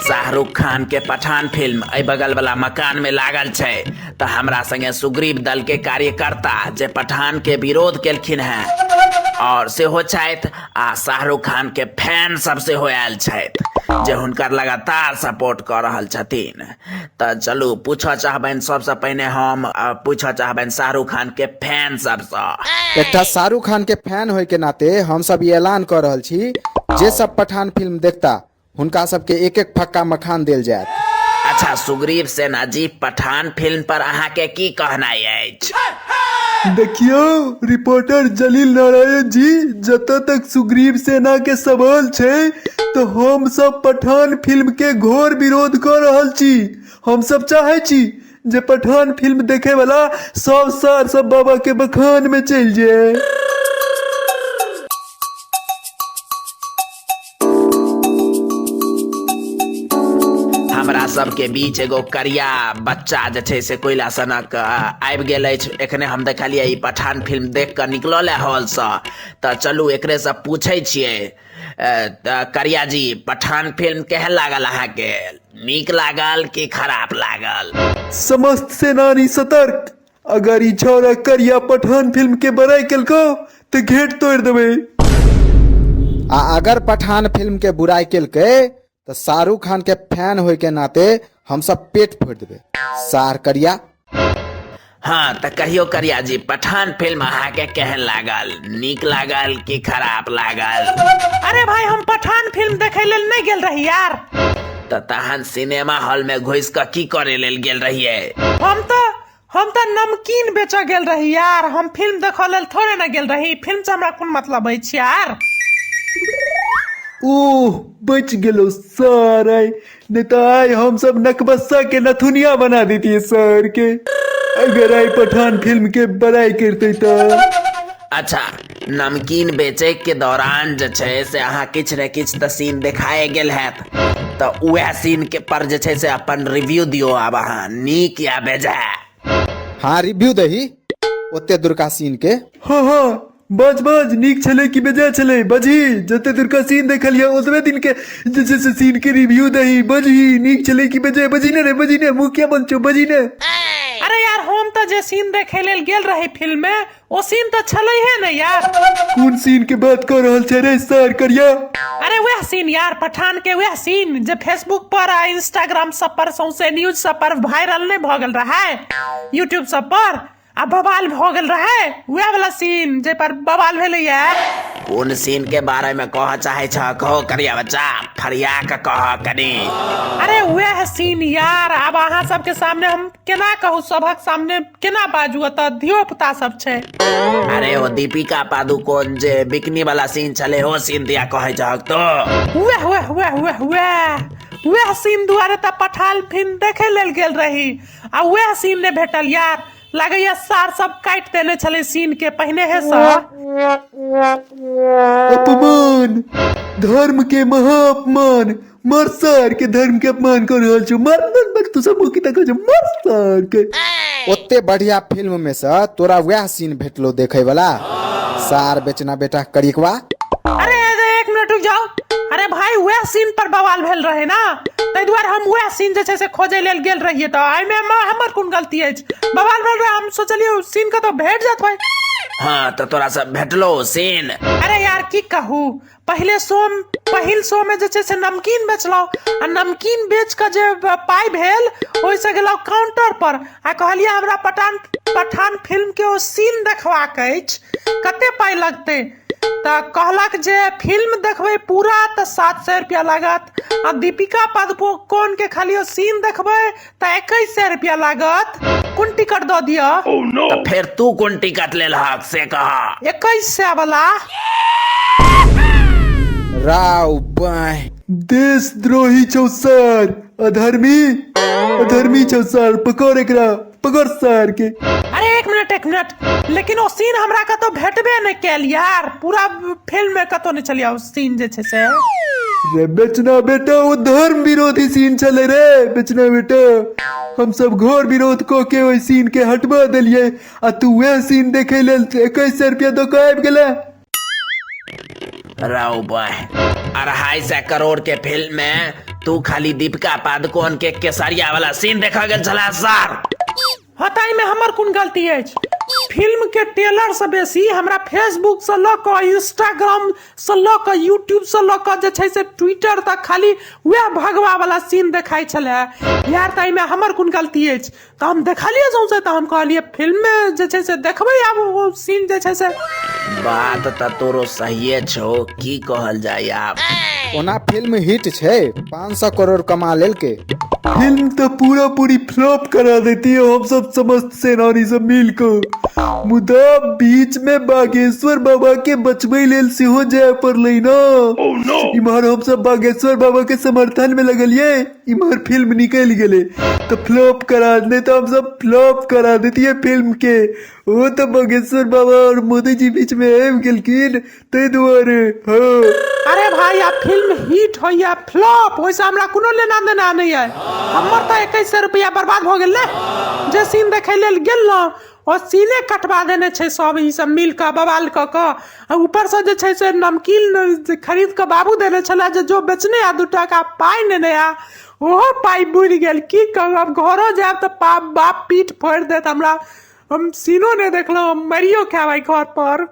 शाहरुख खान के पठान फिल्म अय बगल वाला मकान में लागल छै तऽ हमरा संगे सुग्रीव दल के कार्यकर्ता जे पठान के विरोध केलखिन हैं और सेहो छथि आ शाहरुख खान के फैन सब सेहो आयल छथि जे हुनकर लगातार सपोर्ट कऽ रहल छथिन तऽ चलू पूछऽ चाहबनि सबसँ पहिने हम आ पूछऽ चाहबनि शाहरुख खान के फैन सबसँ एकटा शाहरुख खान के फैन होय के नाते हम सब ई ऐलान कर रहल छी जे सब पठान फिल्म देखता हुनका सबके एक एक फक्का मखान देल जायत अच्छा सुग्रीव सेना जी पठान फिल्म पर अहाँके की कहनाइ अछि देखियौ रिपोर्टर जलील नारायण जी जतऽ तक सुग्रीव सेना के सवाल छै तऽ हम सब पठान फिल्म के घोर विरोध कऽ रहल छी हम सब चाहै छी जे पठान फिल्म देखे वाला सब सार सब बाबा के बखान में चलि जाए हमरा सबके बीच एगो करिया बच्चा जे छै से कोयला सनक आबि गेल अछि एखने हम देखलियै ई पठान फिल्म देख कऽ निकलल है हॉलसँ तऽ चलू एकरेसँ पूछै छियै अ, तऽ करिया जी पठान फिल्म केहन लागल अहाँके नीक लागल कि खराब लागल समस्त सेनानी सतर्क अगर ई छौरा करिया पठान फिल्म के बड़ाई केलको तो घेट तोड़ देबे आ अगर पठान फिल्म के बुराई केलकै तो शाहरुख खान के फैन होय के नाते हम सब पेट फोड़ देबे सार करिया हाँ तऽ कहियो करिया जी पठान फिल्म अहाँके केहन लागल नीक लागल कि खराब लागल अरे भाई हम पठान फिल्म देखे लेल नहीं गेल रही यार तऽ तहन सिनेमा हॉल में घुस कऽ की करे लेल गेल रहियै हम तो हम तऽ नमकीन बेचऽ गेल रही यार हम फिल्म देखऽ लेल थोड़े ने गेल रही फिल्म से हमरा कोन मतलब अछि यार ओह बच गेलो सर आय नहि तऽ आय हम सब नकबस्सा के नथुनिया बना देतियै सर के अगर आय पठान फिल्म के बड़ाई करते तऽ अच्छा नमकीन बेचैके दौरान जे छै से अहाँ किछु ने किछु तऽ सीन देखाए गेल हैत तऽ उएह सीनके पर जे छै से अपन रिव्यू दियौ आब अहाँ नीक या बेजाय हाँ रिव्यू दही ओते दुर्गा सीन के हाँ हाँ बाज बाज नीक छलै कि बेजाय छलै बजही जते दूर का सीन देखलियै ओतबे दिन के जे छै से सीन के रिव्यू दही बजही नीक छलै कि बेजाय बजही ने रे बजही ने मुखिया बन छौ बजही ने अरे यार हम तऽ जे सीन देखे लेल गेल रही फिल्म में ओ सीन तऽ छलैहे ने यार कोन सीन के बात कर रहल छै रे सर करिया अरे वह सीन यार पठान के वह सीन जे फेसबुक पर आ इंस्टाग्राम सब पर सौंसे न्यूज सब पर वायरल नहीं भऽ गेल रहा है यूट्यूब सब पर आ बवाल भऽ गेल रहा है वह वाला सीन जे पर बवाल भेले यार कोन सीन के बारे में कह चाहे छ कहो करिया बच्चा फरिया के कह कनी अरे वह सीन यार अब अहाँ सबके सामने हम केना कहू सभक सामने केना बाजू ओतऽ धियो पुता सब छै अरे ओ दीपिका पादुकोण जे बिकनी वाला सीन छले ओ सीन दिया कहे जहक तो हुए हुए हुए हुए हुए वएह सीन दुआरे तऽ पठाल फिल्म देखे लेल गेल रही आ वएह सीन ने भेटल यार लगैया सार सब काटि देने छले सीन के पहिने हे सर अपमान धर्म के महाअपमान मर सर के धर्म के अपमान कर रहल छौ मर मर मर तू सब की तक छौ मर सर के ओते बढ़िया फिल्म में से तोरा वह सीन भेटलो देखे वाला सार बेचना बेटा करिकवा अरे अरे, एक मिनट रुक जाओ अरे भाई वह सीन पर बवाल भेल रहे ना ताहि दुआरे हम वह सीन जे छै से खोजै लेल गेल रहियै तऽ एहिमे हमर- हमर कोन गलती अछि बवाल भेल रहे हम सोचलियै ओ सीन के तऽ भेट जात भाई हाँ तो तोरा सब भेटलो सीन अरे यार की कहू पहिले शो पहिल शोमे जे छै से नमकीन बेचलहुँ आ नमकीन बेच कऽ जे पाइ भेल ओहिसँ गेलहुँ काउंटर पर आ कहलियै हमरा पठान पठान फिल्मके ओ सीन देखबाक अछि कते पाइ लगतै तऽ कहलक जे फिल्म देखबै पूरा तऽ सात सए रुपैआ लागत आ दीपिका पादुकोणके खाली ओ सीन देखबै तऽ एकैस सए रुपया लागत कोन टिकट दऽ दिअ तऽ फेर तू कोन टिकट लेलहक से कहा एकैस सए वाला राव बाय देशद्रोही छौ सर अधर्मी अधर्मी छौ सर पकड़ एकरा पकड़ सर के अरे एक मिनट एक मिनट लेकिन ओ सीन हमरा कतौ भेटबे नहि कैल यार पूरा फिल्म में कतौ नहि चलिया सीन जे छै से रे बेचना बेटा ओ धर्म विरोधी सीन छले रे बेचना बेटा हम सब घोर विरोध क के ओहि सीन के हटवा देलिए आ तू वह सीन देखे लेल इक्कीस सौ रुपया दो के आबि गेले राव बॉय अढ़ाई सौ करोड़ के फिल्म में तू खाली दीपिका पादुकोण के केसरिया वाला सीन देखा गेल छला सर हँ तऽ एहिमे हमर कोन गलती अछि फिल्म के टेलर से बेसी हमरा फेसबुक से लऽ कऽ इंस्टाग्राम से लऽ कऽ यूट्यूब से लऽ कऽ जे छै से ट्विटर तक खाली वएह भगवा वाला सीन देखाइ छले यार तऽ एहिमे हमर कोन गलती अछि तऽ हम देखलियै सौंसे तऽ हम कहलियै फिल्म मे जे छै से देखबै आब ओ सीन जे छै से बात तऽ तोरो सहिए छौ की कहल जाय आब ओना फिल्म हिट छै पाँच सौ करोड़ कमा लेलके फिल्म तो पूरा पूरी फ्लॉप करा देती है हम सब समस्त सेनानी सब मिलकर मुदा बीच में बागेश्वर बाबा के बचबे लेल सेहो जाय पड़लै ना इम्हर हम सब बागेश्वर बाबा के समर्थन में लगलिए इम्हर फिल्म निकल गेले तो फ्लॉप करा नहीं तो हम सब फ्लॉप करा देती है फिल्म के वो तो बागेश्वर बाबा और मोदी जी बीच में आबि गेलखिन ताहि दुआरे हँ अरे भाई आब फिल्म हिट होइया फ्लॉप ओहिसँ हमरा कोनो लेना देना नहि अइ हमर तऽ एकैस सए रुपैआ बर्बाद भऽ गेल ने जे सीन देखै लेल गेलहुँ ओ सीने कटवा देने छै सब ई सब मिल कऽ बवाल कऽ कऽ आ ऊपरसँ जे छै से नमकीन जे खरीद कऽ बाबू देने छलै जे जो बेचने आ दू टाका पाइ नेने आ ओहो पाइ बुड़ि गेल की कहू आब घरो जायब तऽ पा बाप पीठ फोड़ि देत हमरा हम सीनो नहि देखलहुँ हम मरियो खायब एहि घर पर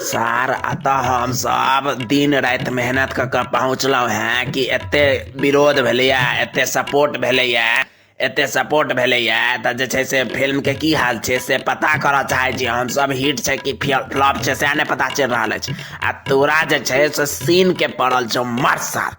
सर अतः हम सब दिन राति मेहनत कऽ कऽ पहुँचलहुँ हेँ कि एते विरोध भेलैए एते सपोर्ट भेलैए एते सपोर्ट भेलैए तऽ जे छै से फिल्मके की हाल छै से पता करऽ चाहै छी हमसब हिट छै कि फ्लॉप छै सएह नहि पता चलि रहल अछि आ तोरा जे छै से सीनके पड़ल छौ मर सार